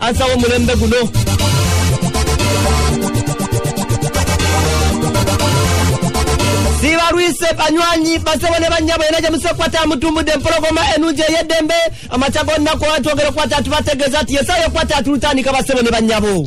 ansa w'omulembe guno sibalwise banywanyi basebo ne bannyabo yena gye musekwata amutumbudde empologoma enungi ey'eddembe amakya g'olunaku olwatwogera okukwata atubategeeza nti yesaayo okukwata atulutandika basebo ne bannyabo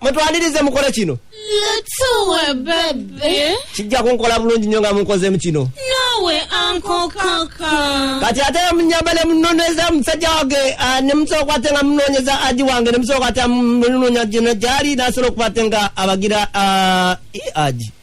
mutwanirize mukole kino Tuwe bebe. kijja kunkola bulungi nnyo nga munkozeemu kino Nawe anko kaka. kati ate munyamba ne munoneza musajja wange ah, ne musooka ate nga munonyeza aji wange ne musooka ate munoonya gino gyali nasobola okuba ate nga abagira ah, i aji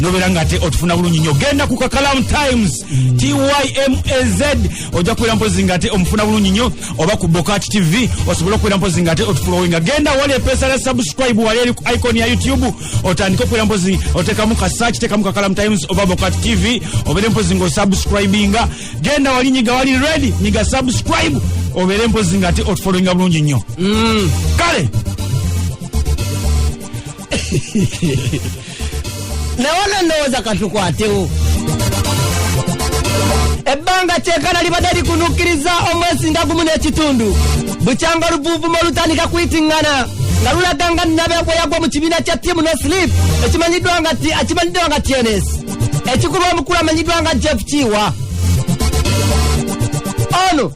nobeera nga ate otufuna bulungi nyo genda ku kakalam times mm. tymaz ojja kubeera mpozi nga ate omufuna bulungi nyo oba ku bokati tv osobole okubeera mpozi nga ate otufulowinga genda wali epesa la subscribe wali eri ku icon ya youtube otandike okubeera mpozi otekamu ka search tekamu kakalam times oba bokati tv obeere mpozi nga osubscribinga genda wali nyiga wali ready nyiga subscribe obeere mpozi nga ate otufulowinga bulungi nyo mm. kale naye ono ndowooza katukwatewo ebbanga kyekana libadde likunukkiriza omwezi nga gumu n'ekitundu bukyanga oluvuuvumo olutandika kuyitingana nga lulaga nga nnabe bwe yagwa mu kibiina kya tiimu no slip ekimanyiddwa nga ti akimanyiddwa nga tns ekikulu omukulu amanyiddwa nga jeff kiwa ono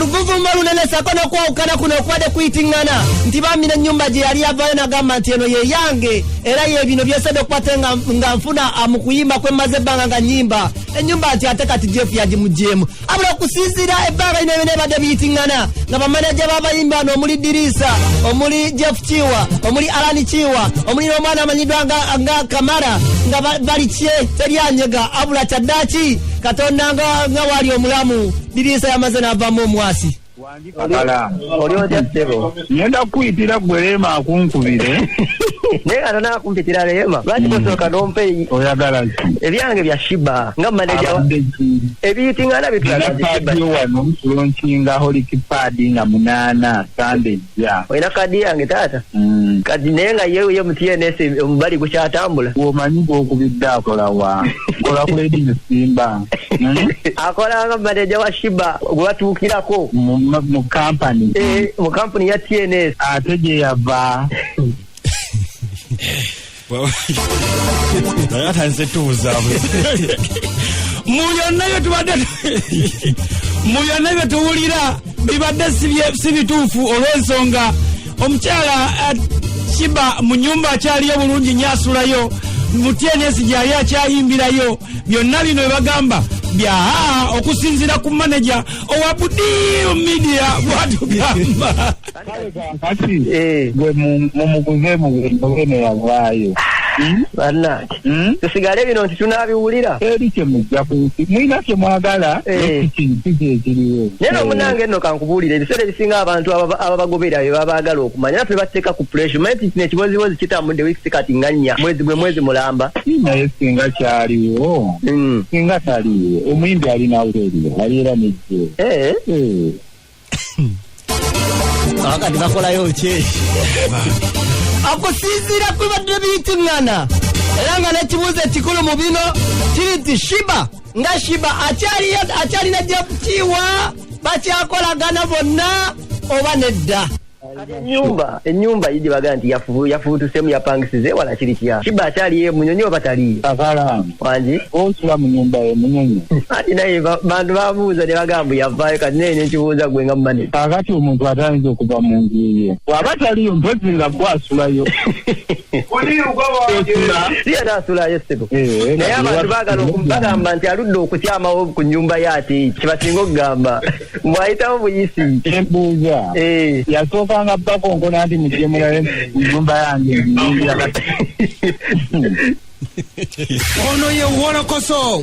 oluvuvumba lunene sako nokwawukana kuno okubadde kuyitiŋŋana nti bambi nenyumba gye yali yavayo nagamba nti eno ye yange era ye bino byesedde okukwate nga nfuna ah, mu kuyimba kwe mmaze ebbanga nga nyimba enyumba nti ate kati jeff yagimugyemu abula okusinziira ebbanga lino byona ebadde biyitiŋŋana nga bamanaja babayimbi bano omuli diriisa omuli jeff kiwa omuli alani kiwa omuli n'omwana amanyiddwa nga kamara nga bali kye teryanyega abula kyaddaaki katonda nga nga wali omulamu diriisa yamaze n'avaamu omwasi ngenda kukuyitira gwe leema akunkubire naye kata nakumpitira leema lwaki tosooka hmm. nompe oyagala ki ebyange bya shiba nga maneja ebiyitingana bitulaadio wano lonkinga holikipadi nga munaana sande Yeah. olina kaadi yange taata Mm. kati naye nga ye ye mu tns omubali gukyatambula Omanyi gwokubidde akola wa? Kola ku Lady Musimba. Mm. akolanga maneja wa shiba gwebatuukirako Mu ma- mu company. Eh, mu kampuni ya tns Ate gye yava. naye atandise tubuzabu mu byonna bye tubadde mu byonna bye tuwulira bibadde si bituufu olw'ensonga omukyala eh, kiba mu nyumba akyaliyo bulungi nyo asulayo mutyenesi gyali akyayimbirayo byonna bino bebagamba bya okusinzira ku maneja owa budiru media bwatugamba kale kankati Eh. gwe mu- mumuguze muguze neyavaayo Hmm? bannange Hmm? tusigale bino nti tunaabiwulira eri kyemujja ku nsi mulina kyemwagala Eh. ekiki kyekiriwo naye nomunange nno kankubuulira ebiseera ebisinga abantu ababa- ababagoberera be babaagala okumanya era tubateeka ku pressure manyi nti kino ekibozibozi kitambudde wiiki sikati nga nnya mwezi gwe mwezi mulamba naye singa kyaliwo Mm. singa taliwo omuyimbi alina wuleriyo aliera nejje Eh, Eh, kakati bakolayo ki akusinziira ku bibadde biyitiŋŋana era nga n'ekibuuzo ekikulu mu bino kiri nti shiba nga shiba akyalina gyakukiiwa bakyakolagana bonna oba nedda enyumba enyumba yidi baga nti yafubu yafubu tusemu yapangisize wala kiri kya kiba akyali ye munyonyo batali abala wanji onsula mu nyumba ye munyonyo ati naye bantu babuuza ne bagambu yavayo kati naye nekibuuza gwe nga mumane kakati omuntu atayinza okuva mu nju ye waba taliyo mpozi nga gwe asulayo siye naasulayo sebo eh, naye abantu bagala bagamba nti aludde okukyamawo ku nyumba ye ati kibasinga okugamba bwayitawo buyisi kyembuuza eh. yasookanga bakonkona nti mujje mulabe nyumba yange nyingira kati ono ye wolokoso